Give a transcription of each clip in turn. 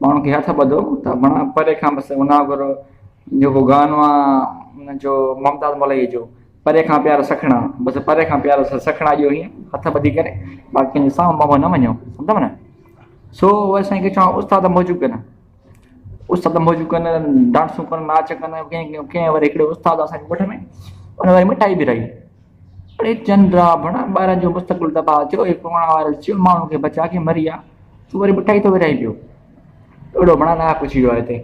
ماڻهن کي هٿ ٻڌو ته بڻا پري کان بس انا گر جيڪو گانو آ ان جو ممتاز ملئي جو پري کان پيار سکڻا بس پري کان پيار سکڻا جو هي هٿ ٻڌي ڪري باقي جو سام مامو نه وڃو سمجهو نه سو وي سائين کي چون استاد موجود ڪن استاد موجود ڪن ڊانسون ڪن ناچ ڪن ڪين ڪين وري هڪڙي استاد اسان مٺ ۾ ان وري مٺائي به رهي اڙي چنڊا بڻا ٻارن جو مستقبل تباهه ٿيو هي ڪورونا وائرس چيو ماڻهن کي بچا ڪي مريا تون وري مٺائي ٿو ورهائين پيو اڙو ڀڻا ناحق پڇي ويو آهي هتي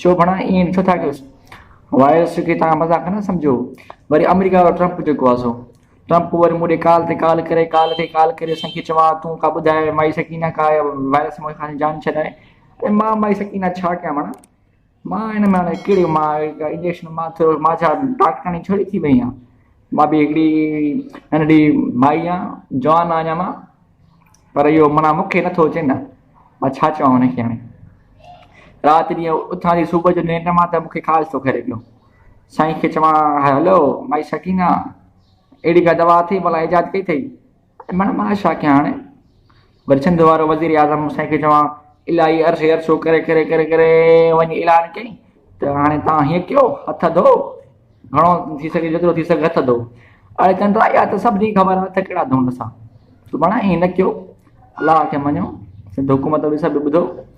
ڇو ڀڻا ائين ڏٺو ٿا ڪيوس وائرس کي تان مذاق نه سمجهو وري آمريڪا وارو ٽرمپ جيڪو آهي سو ٽرمپ وري مون ڏي ڪال تي ڪال ڪري ڪال تي ڪال ڪري اسان کي چوان تون ڪا ٻڌاء مائي سڪينا ڪا وائرس مون کان جان ڇڏائي مان مائي سڪينا ڇا ڪيان ڀڻا مان هن مان هاڻي ڪهڙي مان هڪ انجيڪشن مان ٿيو مان ڇا ڊاڪٽرياڻي ڇڙي ٿي وئي آهيان مان به هڪڙي ننڍڙي مائي آهيان جوان آهيان اڃا مان پر اهو منا مون کي نٿو اچي نه مان ڇا چوان هن کي هاڻي رات ڏينهن اٿان ٿي صبح جو ننڊ مان ته مون کي خاص ٿو ڪري پيو سائين کي چوان هلو مائي سڪينا اهڙي ڪا دوا اٿئي ڀلا ايجاد ڪئي اٿئي مڙه مان ڇا ڪيان هاڻي وري سنڌ وارو وزير اعظم سائين کي چوان الاهي عرصي عرصو ڪري ڪري ڪري ڪري وڃي اعلان ڪيائين ته هاڻي تان هيئن ڪيو هٿ ڌو گهڻو ٿي سگهي جيترو ٿي سگهي هٿ ڌو اڙي چنڊا اها ته سڀني خبر هٿ ڪهڙا ڌون اسان سڀاڻا هيئن نه ڪيو الله کي مڃيو سنڌ حڪومت به سڀ ٻڌو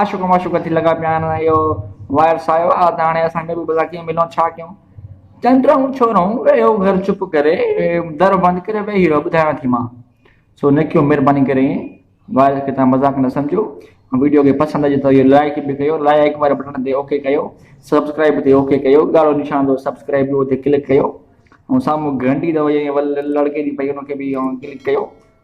عاشق معشوق ٿي لڳا پيا آهن اهو وائرس آيو آ ته هاڻي اسان ۾ به ڀلا ڪيئن ملون ڇا ڪيون چندرائون ڇورائون ويهو گهر چپ ڪري در بند ڪري ويهي رهو ٻڌايان ٿي مان سو نڪيو مهرباني ڪري وائرس کي تان مذاق نه سمجهو ويڊيو کي پسند اچي ته لائڪ به ڪيو لائڪ واري بٽڻ تي اوڪي ڪيو سبسڪرائب تي اوڪي ڪيو ڳاڙهو نشان اٿو سبسڪرائب جو اتي ڪلڪ ڪيو سامهون گهنٽي اٿو ول لڙڪي ٿي پئي ان کي به ڪلڪ ڪيو